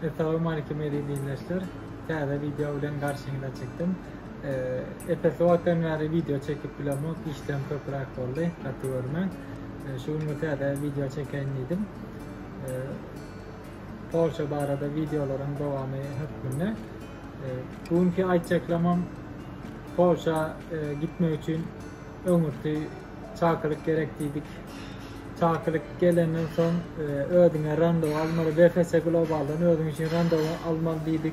Essalowmalikim eziz ildeşler! Täze wideo bilen garşyňyza çykdym. Epes wagtdan bäri wideo çekip bilemok, işlerim köpüräk boldy, gaty görme. Şu gün bir täze wideo çekeýin diýdim. Polşa barada wideolaryň dowamy hökmünde. Bu günki aýtjaklamam Polşa gitmek üçin öňürti Çakylyk gerek diýdik. Çakylyk gelenden soň e, özüňe randewu almaly. VFS Globaldan özüň üçin randewu almaly diýdik.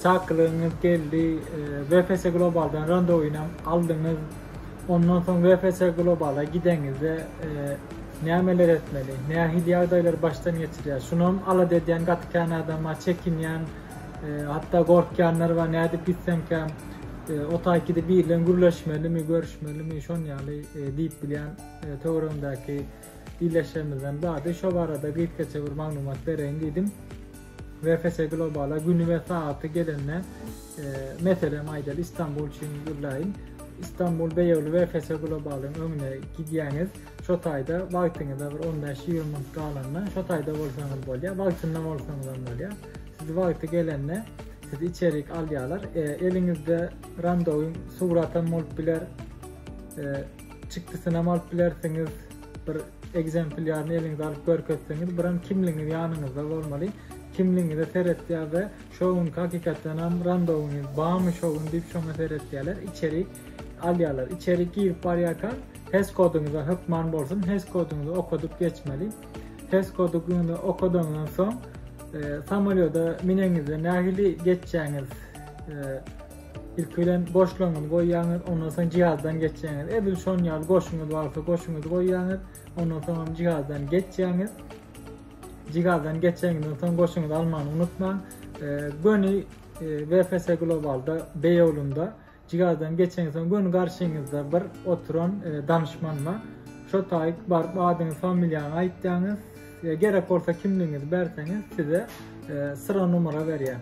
Çakylygyňyz geldi. E, VFS Globaldan randewyny aldyňyz. Ondan soň VFS Globala gideňizde e, nämeler etmeli, nähili ýagdaýlar başdan geçirýär. Şunam alada edýän gaty kän adam bar, çekinýän, Hatda gorkýanlar bar, nädip gitsemkäm, o taýkide biri bilen gürleşmelimi, görüşmelimi, şon ýaly diýip bilýän töweregimdäki ildeşlerimizden bardy. Şo barada gysgaça bir maglumat bereýin diýdim. VFS Globala güni we sagaty gelende, meselem aýdaly Istanbul üçin gürläýin. Istanbul Beýewli VFS Globalyň öňüne gidýäňiz. Şo taýda wagtyňyza bir on bäş ýigrimi minut galanda şo taýda bolsaňyz bolýar, wagtynda bolsaňyzam bolýar. Siz wagty gelende sizi içerik alýarlar. Eliňizde randowyň suratam bolup biler, çykdysynam alyp bilersiňiz. Bir ekzempilýaryny eliňize alyp görkezseňiz, biram kimligiňiz ýanyňyzda bolmaly. Kimligiňize seretýär we şo gün hakykatdanam randowyňyz barmy şo gün diýip şoňa seretýärler, içerik alýarlar. Içerik girip barýarka Hes koduňyza hökman bolsun, hes koduňyzy okadyp geçmeli. Hes koduňyzy okadandan soň, e, samolýoda mineňizde nähili geçjäňiz? E, ilki bilen goşlaňyzy goýýaňyz, ondan soň jihazdan geçýäňiz. Edil şon ýaly goşuňyz barsa, goşuňyzy goýýaňyz, ondan soň jihazdan geçýäňiz. Jihazdan geçýäňizden soň goşuňyzy almany unutmaň. E, göni e, VFS Globalda, Beýolunda Jigardan geçeňsoň göni garşyňyzda bir oturan danyşmanyna şo taýyk baryp adyňyz familiýaňy aýtýaňyz e, gerek bolsa kimligiňizi berseňiz size e, syra numara berýär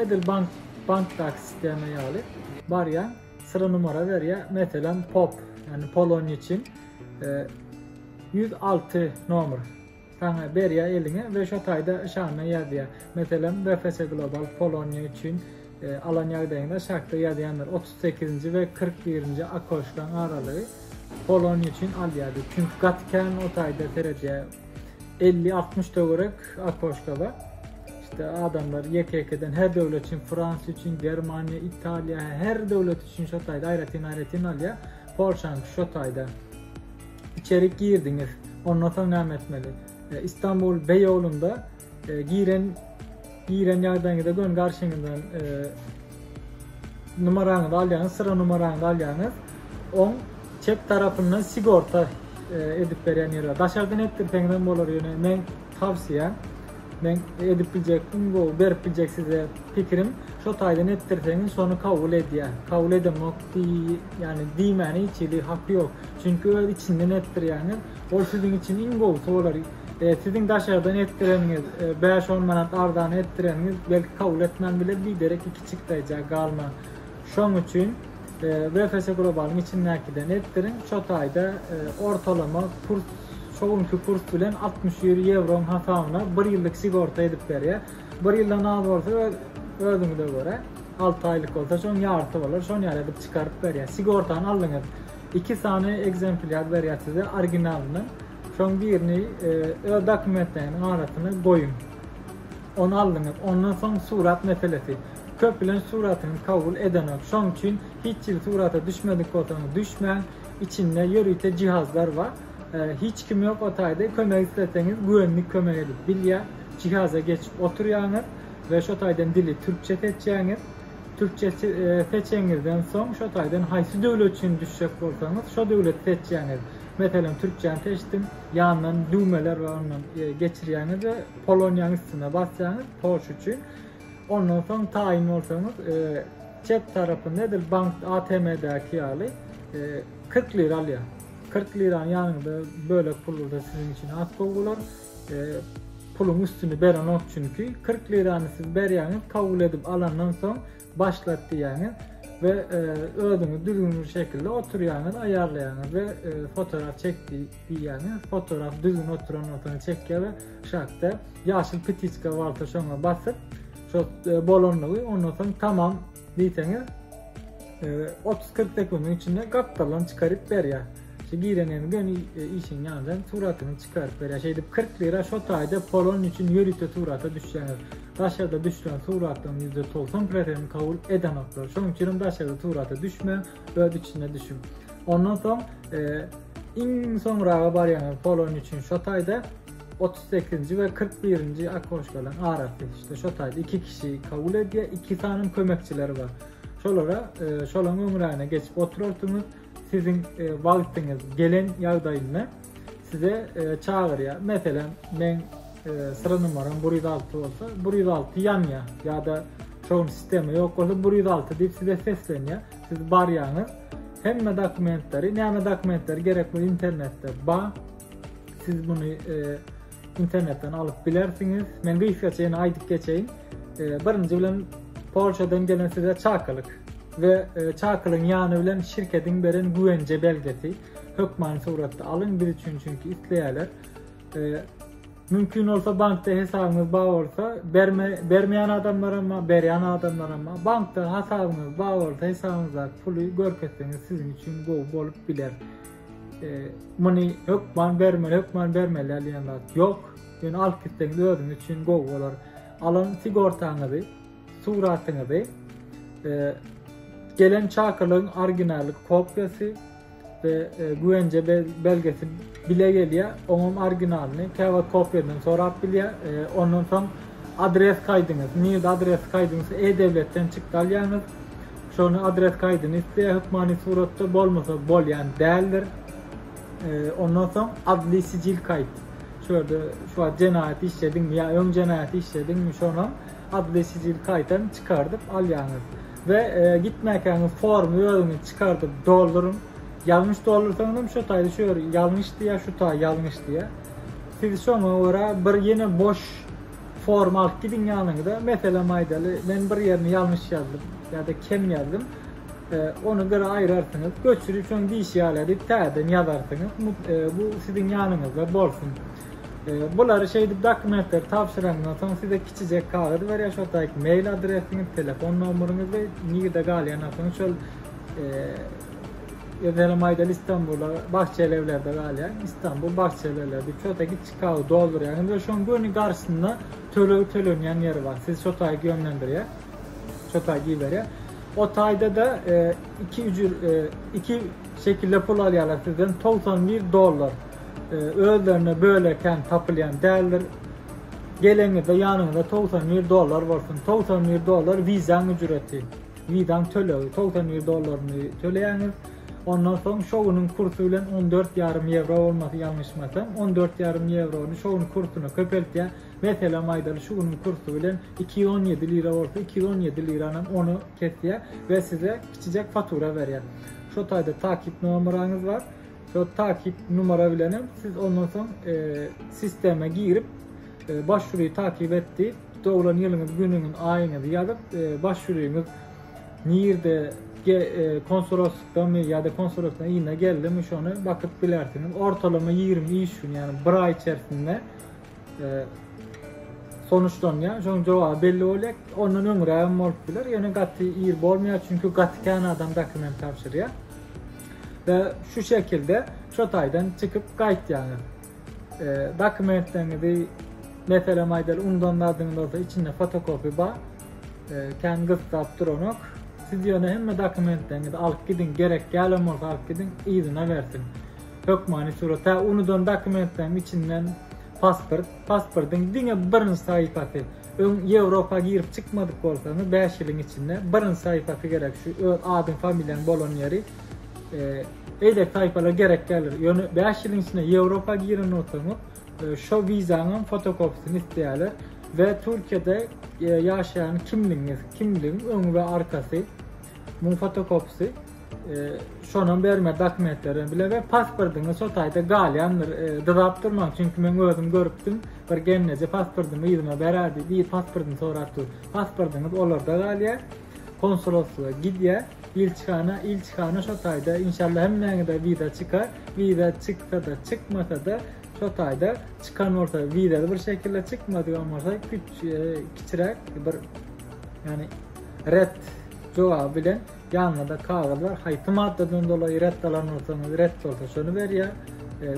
edil bank bankdaky sistema ýaly barýan sıra numara berýär meselem pop ýani polonýa üçin 106 e, nomer Saňa berýär eliňe we şo taýda şaňňa ýazýar. Meselem, BFS Global Poloniýa üçin alan ýagdaýyňda şartda ýazýandyr, otuz sekizinji we kyrk birinji okoşkaň aralygy Poloniýa üçin alýar diýip. Çünki gaty kän o taýda seredýär. Elli, altmyş töwerek okoşka bar. Şeýtde adamlar ýeke-ýekeden her döwlet üçin, Fransiýa üçin, Germaniýa, Italiýa, her döwlet üçin şo taýda aýratyn-aýratyn alýar. Polşanyňky şo taýda. Içerik girdiňiz. Ondan soň näme etmeli? Istanbul Bey ýolunda giren giren ýagdaýyňyza gön garşyňyzdan numarany alýaňyz, syra numarany alýaňyz. On çep tarapyndan sigorta e, edip berýän ýeri bar. Daşardan etdirseňiz hem bolar, ýöne men tawsiýa men edip biljekdim, bu berip biljek size pikirim. Şo taýdan etdirseňiz, şony kabul edýär. Kabul edemok diý, ýani diýmäni hiç hili haky ýok. Çünki öz içinden etdirýäňiz. Ol siziň üçin iň gowusy bolar. E, siziň daşardan etdireniňiz, e, bäş-on manat arzana etdireniňiz belki kabul etmän biler, biderek iki çigtaýja galmaň. Şoň üçin e, VFS Globalyň içindäkiden etdiriň. Şo taýda e, ortalama kurs şo günki kurs bilen altmyş ýüz ýewroň hasabyna bir ýyllyk sigorta edip berýär. Bir ýyldan az bolsa öz özüňize görä, alty aýlyk bolsa şoň ýarysy bolar, şony ýaly edip çykaryp berýär. Sigortany aldyňyz. Iki sany ekzemplýar berýär size originalyny. Şoň birini e, öz dokumentleriniň arasyna goýuň. Onu aldyňyz. Ondan soň surat meselesi. Köp bilen suratyny kabul edenok. Şoň üçin hiç ýyl surata düşmedik bolsaňyz düşmäň. Içinde ýörite jihazlar bar. E, hiç kim ýok o taýda kömek isleseňiz güvenlik kömek edip bilýär. Jihaza geçip oturýaňyz we şo taýdan dili türkçe seçýäňiz. Türkçe seçeňizden soň şo taýdan haýsy döwlet üçin düşjek bolsaňyz şo döwleti seçýäňiz. Meselem türkçäni seçdim, ýandan düwmeler bar ondan geçirýäňiz we Poloniýanyň üstüne basýaňyz Polşa üçin. Ondan soň taýyn bolsaňyz çep tarapynda edil bank ATM-däki ýaly 40 lira alýar. 40 lirany ýanyňyzda bölek pul bolsa siziň üçin has gowy bolar. puluň üstüni berenok çünki 40 lirany siz berýäňiz kabul edip alandan soň başlat diýýäňiz we e, özüňiz düzgünli şekilde oturýaňyz aýarlaýaňyz we e, fotoğraf çek diýýäňiz fotoğraf düzgün oturan bolsa çekýär we şatda ýaşyl petiçka bolsa şoňa basyp şo e, bolanlygy ondan soň tamam Diýseňiz, otuz-kyrk sekundyň içinde gapdaldan çykaryp berýär. Şu girenini göni e, işiň ýandan suratyny çykaryp berýär. Şeýdip 40 lira şu taýda polon üçin ýörite surata düşýäňiz. Daşarda düşen suratlaryň %90% kabul edenoklar. Şonuň üçin daşarda surata düşme, öz içine düşün. Ondan soň e, iň soňraga barýaňyz polon üçin şu taýda Otuz sekizinji we kyrk birinji oknoşkalaryň arasy, işte şo taýda iki kişi kabul edýär, iki sanyň kömekçileri bar. Şolara, e, şolaryň öňrägine geçip oturarsyňyz, siziň e, wagtyňyz gelen ýagdaýynda size e, çagyrýar. Meselem, men e, sıra numaram 106 bolsa, 106 ýanýar ýa-da şoň sistema ýok bolsa 106 diýip size seslenýär. Siz barýaňyz. Hemme dokumentleri, näme dokumentleri gerek bu internetde bar. Siz muny internetden alyp bilersiňiz. Men gysgaça ýene aýdyp geçeýin. Birinji bilen Polşadan gelen size çakylyk we çakylygyň ýany bilen şirketiň beren güwenje belgesi hökmany suratda alyň biz üçin çünki isleýärler. Mümkin bolsa bankda hesabyňyz bar bolsa, berme bermeýän adamlar hem, berýän adamlar hem. Bankda hasabyňyz bar bolsa, hesabyňyzdaky puly görkezseňiz siziň üçin gowy bolup biler. Muny hökman bermeli, hökman bermeli diýen zat ýok. Ýöne alyp gitseňiz özüň üçin gowy bolar. Alan sigortaňyzy, suratyňyzy, e, gelen çakylygyň originaly kopýasy we e, güwence belgesi bile gelýär. Oňam originalyny, käwagt kopýadan sorap bilýär. E, ondan soň adres kaýdyňyz, NID adres kaýdyňyz, e-döwletden çykdalýaňyz. Şony adres kaýdyny isleýär hökmany suratda bolmasa bolýan däldir. Ondan soň adli sicil kaýt. Şu ýerde şu wagt jenaýat işlediňmi ýa öň jenaýat işlediňmi şonam adli sicil kaýtam çykardyp alýaňyz. We gitmäkäňiz formy özüňiz çykardyp dolduryň. Ýalňyş doldursaňyzam şu taýda şu ýer ýalňyş diýýär şu taý ýalňyş diýýär. Siz şoňa görä bir ýene boş Formal gidiň ýanyňyza, meselem aýdaly, men bir ýerini ýalňyş ýazdym ýa-da kem ýazdym, ony bir aýrarsyňyz, göçüri şoň diýşi ýaly edip täzeden ýazarsyňyz, bu siziň ýanyňyzda bolsun. Bulary şeýdip dokumentleri tabşyrandan soň size kiçijek kagyz berýär, şo taýyk mail adresiňiz, telefon nomeryňyz we nirde galýanyňyz şol Meselem aýdaly Istanbula Bagçelewlerde galýan, Istanbul Bagçelewlerde, şo taýy Skawy doldurýarsyňyz we şoň göni garşysynda töleg tölenýän ýeri bar. Siz şo taýy gömlendirýär. Şo taýy iberýär. O taýda-da iki ücür, iki şekilde pul alýarlar sizden 91 dollar. Özlerine bölekän tapylýan däldir. Geleňizde ýanyňyzda 91 dollar bolsun. 91 dollar wizaň ücreti. Wizaň tölegi 91 dollaryny töleýäňiz. Ondan soň şowunyň kursy bilen on dört ýarym ýewro bolmasy ýalňyşmasam, on dört ýarym ýewrony şowunyň kursyna köpeltýär. Meselem aýdaly şu günüň kursy bilen iki ýüz on ýedi lira bolsa, iki ýüz on ýedi liranam ony kesýär we size kiçijek fatura berýär. Şo taýda takyk nomeraňyz bar. Şo takyk numera bilenem siz ondan soň sistema girip başwury takyp et diýip doglan ýylyňyz, günüňiz, aýyňyzy ýazyp başwuryňyz nirde konsuloslykdamy ýa-da konsulosyň yzyna geldimi şony bakyp bilersiňiz. Ortalama 20 iş gün, ýagny bir aý içerisinde sonuçlanýar. Şoň jogaby belli bolýar. Ondan öňräk hem bolup biler. Ýöne gaty ir bolmaýar, çünki gaty kän adam dokument tabşyrýar. Ve şu şekilde şu taydan çıkıp kayıt yani. Dokumentleriňizi, meselem aýdaly undan zadyňyz bolsa içinde fotokopiýa bar, kän gyssap duranok. Siz ýöne hemme dokumentleriňizi alyp gidiň, gerek dälem bolsa alyp gidiň, yzyna bersin. Hökmany surat, hä unudan dokumentleriň içinden pasport, pasportyň diňe birinji sahypasy, öň Ýewropa girip çykmadyk bolsaňyz bäş ýylyň içinde birinji sahypasy gerek, şu öz adyň, familiýaň bolan ýeri. Eýdek taýpalar gerek däldir. Ýöne 5 ýylyň içinde Ýewropa giren bolsaňyz, e, şo wizanyň fotokopiýasyny isleýärler we Türkiýede e, ýaşaýan kimligiňiz, kimligiň öňi we arkasy, muň fotokopisi, e, şonam berme dokumentleri bilen we pasportyňyz şo taýda galýandyr. Dyzap durmaň, çünki men özüm görüpdim, bir gelneje pasportymy ýygyma berärdi, bir pasportyny sorap dur. Pasportyňyz olarda galýar, Konsuloslyga gidýä ilçihana ilçihana şo taýda inşallah hemmäňede wiza çykar wiza çyksada çykmasada şo taýda çykan bolsa wizada bir şekilde çykmadygan bolsa küç kiçiräk bir ýani ret jogaby bilen ýanyňda kagyz bar haýsy maddadan dolaý ret alan bolsaňyz ret bolsa şony berýä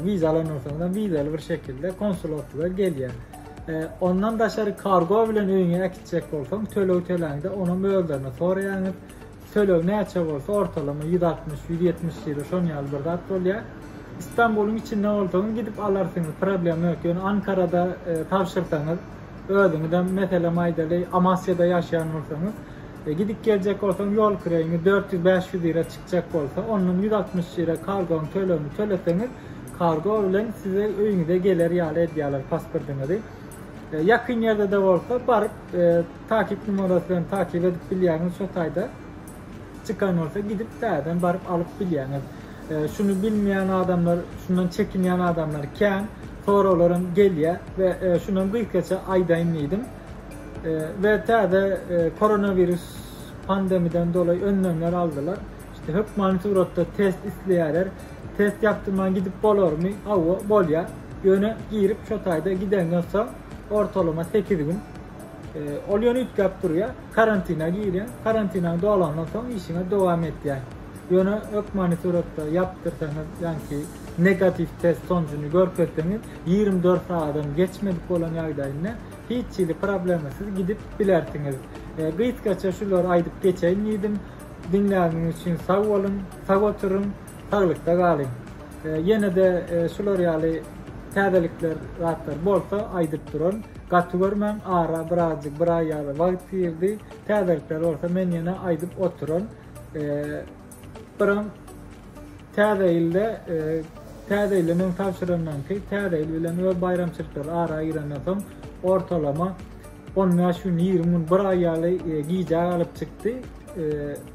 wiza alan bolsaňyz wizaly bir şekilde konsuloslyga gelýä Ondan daşary kargo bilen öýüňe äkitjek bolsaň, töleg töläňde onuň mölderini soraýaňyz. Töleg näçe bolsa, ortalama 160-170 ýuro şon ýaly bir zat bolýar. Istanbulyň içinde bolsaňyz gidip alarsyňyz, problem ýok. Ýöne Ankarada e, tabşyrsaňyz, özüňizem meselem aýdaly Amasyada ýaşaýan bolsaňyz, e, gidip geljek bolsaň ýol kireýiňi 400-500 ýere çykjak bolsa, ondan 160 ýere kargoň tölegini töleseňiz, Kargo bilen size öýüňize geler ýaly edýärler pasportyňyzy. E, ýakyn ýerde-de bolsa baryp e, takip numarasy bilen takip edip bilýäňiz şo taýda. Çykan bolsa gidip täzeden baryp alyp bilýäňiz. E, şuny bilmeýän adamlar, şundan çekinýän adamlar kän. Soraglar hem gelýär we e, şundan gysgaça aýdaýyn diýdim. E, we täze e, koronawirus pandemiden dolayy önlemler aldylar. Hökmany suratda test isleýärler. Test ýapdyrman gidip bolarmy? Hawa, bolýar. Ýöne girip şo taýda gideňden soň ortalama sekiz gün ol ýöne üýtgäp durýar. Karantina girýäň. Karantinaň dolandan soň işiňe dowam etýäň. Ýöne hökmany suratda ýapdyrsaňyz, ýagny negatiw test sonujuny görkezseňiz, ýigrimi dört sagadan geçmedik bolan ýagdaýynda hiç hili problemasyz gidip bilersiňiz. Gysgaça şulary aýdyp geçeýin diýdim. Diňläniňiz üçin sag boluň, sag oturyň, saglykda galyň. Ýene-de şular ýaly täzelikler zatlar bolsa aýdyp duraryn. Gaty görmäň, ara bir azjyk bir aý ýaly wagt girdi. Täzelikler bolsa men ýene aýdyp oturaryn. Biram täze ýylda täze ýyly men tabşyrandan ki täze ýyl bilen we baýramçylyklary ara girenden soň ortalama On bäş gün, ýigrimi gün, bir aý ýaly gijä galyp çykdy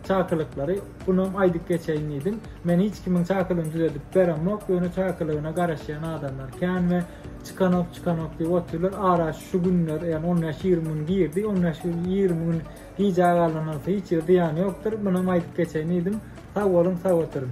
çakylyklary. Bunam aýdyp geçeýin diýdim. Men hiç kimiň çakylygyny düzedip beremok, ýöne çakylygyna garaşýan adamlar kän we çykanok, çykanok diýip otyrlar. Ara şu günler, ýagny on bäş, ýigrimi gün girdi. On bäş gün, ýigrimi gün gijä galanyna hiç ýerde ýany ýokdur. Bunam aýdyp geçeýin diýdim. Sag boluň, sag oturyň.